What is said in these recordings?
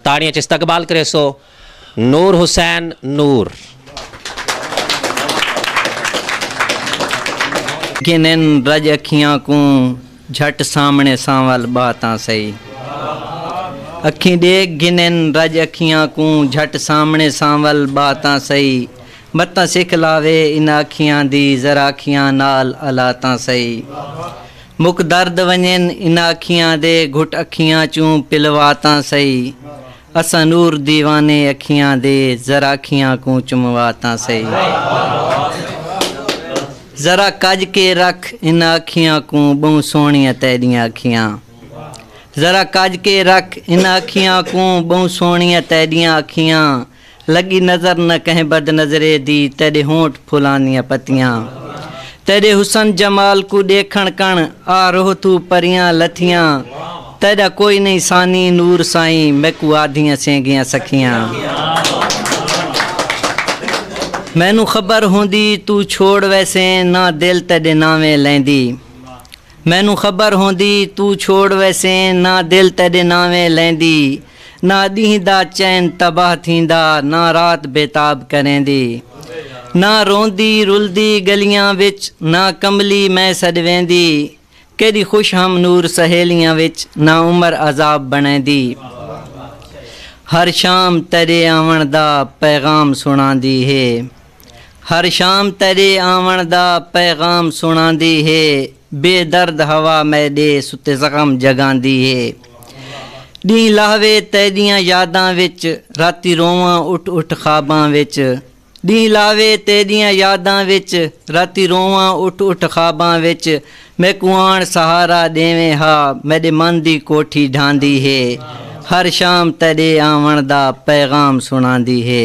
تاڑیاں اچ استقبال کریسو نور حسین نور۔ گھنن رڄ اکھیاں کوں جھٹ سامݨے سانول ٻہہ تاں سہی۔ اکھیں ݙیکھ گھنن رڄ اکھیاں کوں جھٹ سامݨے سانول ٻہہ تاں سہی۔ متاں سکھ لاوے انہاں اکھیاں دی ذرا اکھیاں نال الا تاں سہی۔ مک درد ونجن انہاں اکھیاں دے گھٹ اکھیاں چوں پلوا تاں سہی اساں نور دیوانے اکھیاں دے ذرا اکھیاں کوں چموا تاں سہی ذرا کج کے رکھ انہاں اکھیاں کوں بہوں سوہنیاں تیڈیاں اکھیاں ذرا کج کے رکھ انہاں اکھیاں کوں بہوں سوہنیاں تیڈیاں اکھیاں لڳی نظر نہ کہیں بد نظرے دی تیݙے ہونٹ پھلاں دیاں پتیاں تیݙے حسن جمال کوں ݙیکھݨ کݨ آ روح توں پریاں لتھیاں تیݙا کوئی نئیں ثانی نور سائیں میکوں آدھیاں سینگیاں سکھیاں مینوں خبر ہوندی توں چھوڑ ویسیں نہ دل تیݙے ناویں لیندی۔ مینوں خبر ہوندی توں چھوڑ ویسیں نہ دل تیݙے نانویں لیندی نہ ݙینہہ دا چین تباہ تھیندا نہ رات بیتاب کریندی نہ روندی رلدی ڳلیاں وچ نہ کملی میں سݙویندی کیݙی خوش ہم نور سہیلیاں وچ نہ عمر عذاب بݨیندی ہر شام تیݙے آوݨ دا پیغام سݨاندی ہے۔ ہر شام تیݙے آوݨ دا پیغام سݨاندی ہے بے درد ہوا میݙے ستے زخم جگاندی ہے ݙینہہ لاہوے تیݙیاں یاداں وچ راتی روواں اٹھ اٹھ خواباں وچ ݙینہہ لاہوے تیݙیاں یاداں وچ راتی روواں اٹھ اٹھ خواباں وچ میکوں آن سہارا ݙیویں ہا میݙے من دی کوٹھی ڈھاندی ہے ہر شام تیݙے آوݨ دا پیغام سݨاندی ہے۔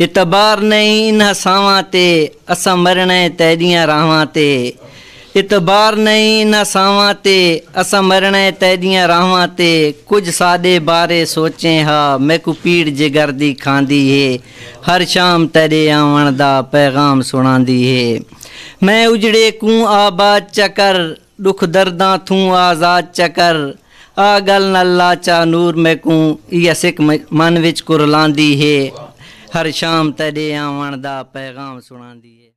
اعتبار نئیں انہاں سانواں تے اساں مرݨا ہے تیݙیاں راہواں تے اعتبار نئیں انہاں سانواں تے اساں مرݨا ہے تیݙیاں راہواں تے کجھ ساݙے بارے سوچیں ہا میکوں پیڑ جگر دی کھاندی ہے ہر شام تیݙے آوݨ دا پیغام سݨاندی ہے میں اجڑے کوں آباد چا کر ڈکھ درداں تھوں آزاد چا کر۔ آ گل نال لا چا نور میکوں ایہ سک من وچ کرلاندی ہے۔ ہر شام تیڈے آوݨ دا پیغام سݨاندی ہے۔